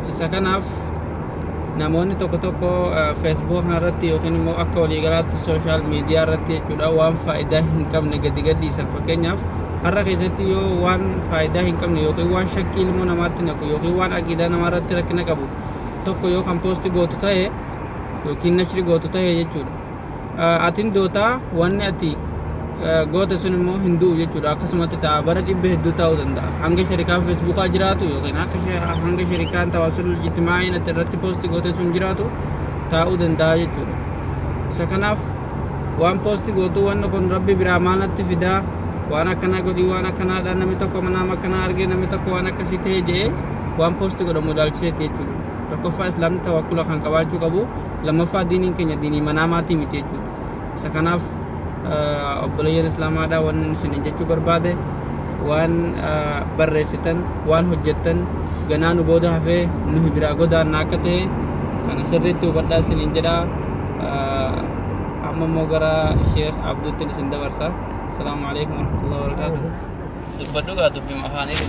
Isa kanaaf namoonni tokko tokko feesbuuk irratti yookiin immoo akka waliigalaatti sooshaal miidiyaa irratti jechuudha waan faayidaa hin qabne gadi gadhiisan fakkeenyaaf har'a keessatti yoo waan faayidaa hin qabne yookiin waan shakkii ilmoo namaatti naqu yookiin waan aqiidaa namaa irratti rakkina qabu tokko yoo kan poosti gootu ta'e yookiin nashri gootu ta'e jechuudha. atin dootaa wanni ati goota sun immoo hin du'u jechuudha akkasumatti ta'a bara dhibba hedduu ta'uu danda'a hanga sharikaan feesbuukaa jiraatu yookiin akka hanga sharikaan tawaasul jitimaa'in ati irratti poosti goote sun jiraatu taa'uu danda'a jechuudha isa kanaaf waan poosti gootu wanni kun rabbi biraa maal natti fidaa waan akkanaa godhii waan akkanaadhaan namni tokko manaam akkanaa argee namni tokko waan akkasii ta'ee je'ee waan poosti godhamu ilaalchiseeti jechuudha tokkoffaa islaamni tawakkula kan qabaachuu qabu lammaffaa diiniin keenya diinii manaa maatii miti jechuudha. Isa kanaaf obboleeyyan islaamaadhaa waan isiniin jechuu barbaade waan barreessitan waan hojjettan ganaa nu booda hafee nuhi biraa godaanna akka ta'e kana sirriitti hubadhaa isiniin jedha. Amma immoo gara Sheekh Abduuttiin isin dabarsa. Asalaamu alaikum warahmatullahi wabarakaatuh. Dubbadhu gaa dubbima afaanii.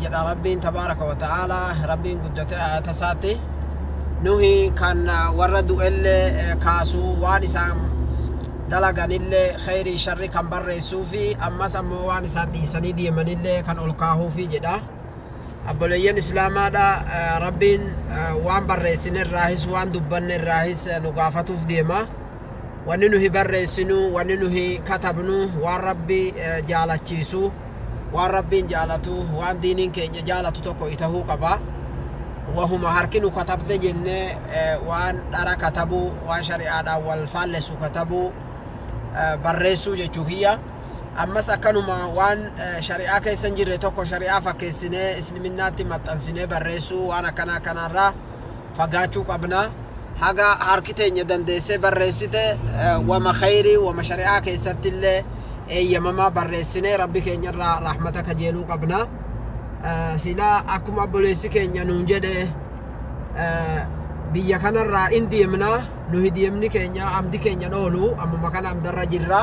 jedha rabbiin tabaaraka wa ta'aalaa rabbiin guddate ayata isaatti nuhi kan warra du'ellee kaasu waan isaan dalaganillee kheyrii sharri kan barreessuu fi ammas ammoo waan isaan dhiisanii deemanillee kan ol kaahuufi jedha abboleeyyan islaamaadha rabbiin waan barreessine irraahis waan dubbanne irraahis nu gaafatuuf deema wanni nuhi barreessinu wanni nuhi katabnu waan rabbi jaalachiisu waan rabbiin jaalatu waan diiniin keenya jaalatu tokko itahuu qaba wahuma harki nu katabde jenne waan dhara katabu waan shari'aadhaan wal faallessu katabu barreessuu jechuu kiyya ammas akkanuma waan shari'aa keessa hin jirre tokko shari'aa fakkeessinee islimiinaatti maxxansinee barreessuu waan akkana akkanaarraa fagaachuu qabna haga harki teenya dandeessee barreessite wama khayrii wama shari'aa keessatti illee eeyyamamaa barreessinee rabbi keenya irraa rahmata kajeeluu qabna silaa akkuma obboleessi keenya nuun jedhe biyya kanarraa in deemna nuhi deemni keenya amdi keenya hin oolu ammuma kana amdarra jirra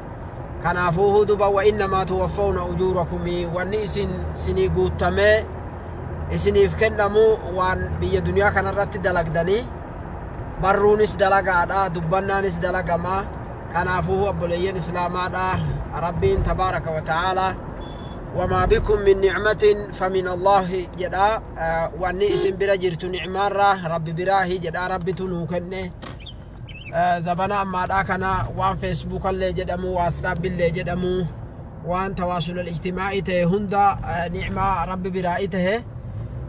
kanaafuu huduba wa innamaa tuwaffawna ujuurakumii wanni isin sinii guuttamee isiniif kennamu waan biyya duniyaa kanarratti dalagdanii barruunis dalagaadha dubbannaanis dalagama kanaafuu obboleeyyan islaamaadha rabbiin tabaaraka wa ta'aalaa wamaa bikum min nicmatin famin allahi jedha wanni isin bira jirtu nicmaarraa rabbi biraahi jedha rabbitu nuu kenne zabana ammaadhaa kana waan feesbuukallee jedhamu waasxaabbillee jedhamu waan tawaasulal ijtimaa'ii ta'e hunda ni'maa rabbi biraa ta'e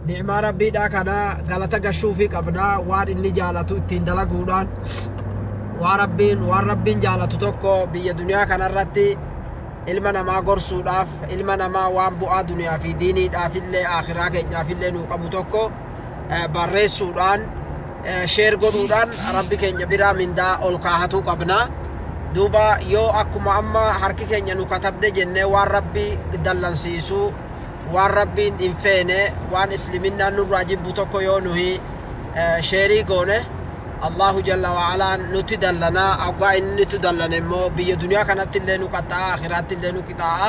ni'maa rabbiidhaa kana galata gashuufii qabna waan inni jaalatu ittiin dalaguudhaan waan rabbiin waan rabbiin jaalatu tokko biyya duniyaa kanarratti ilma namaa gorsuudhaaf ilma namaa waan bu'aa duniyaa fi diiniidhaafillee akhiraa keenyaafillee nuu qabu tokko eh, barreessuudhaan eh, sheer godhuudhaan rabbi keenya biraa mindaa ol kaahatuu qabna duuba yoo akkuma amma harki keenya nu katabde jennee waan rabbi dallansiisu waan rabbiin hin feene waan isliminnaan nurraa jibbu tokko yoo nuhi eh, sheerii goone allahu jalla waalaan nutti dallanaa aggaa inni nutti dallane immoo biyya duniyaa kanatti illee nu qaxxaa'a akiraatti illee nu qixaa'a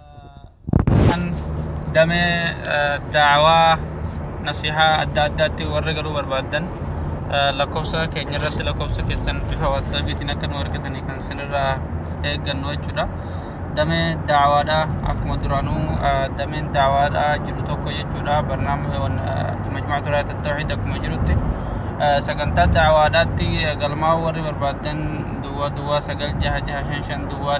kan damee daawaa nasihaa adda addaatti warri garuu barbaadan lakkoofsa keenya irratti lakkoofsa keessan bifa watsaapiitiin akka nu argatanii kan isinirraa eeggannu jechuudha. Damee daawaadha akkuma duraanuu dameen daawaadha jiru tokko jechuudha barnaamija majmaa turaa tattawxiid akkuma jirutti sagantaa daawaadhaatti galmaa'uu warri barbaadan duwwaa duwwaa sagal jaha jaha shan shan duwwaa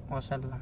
wasallam.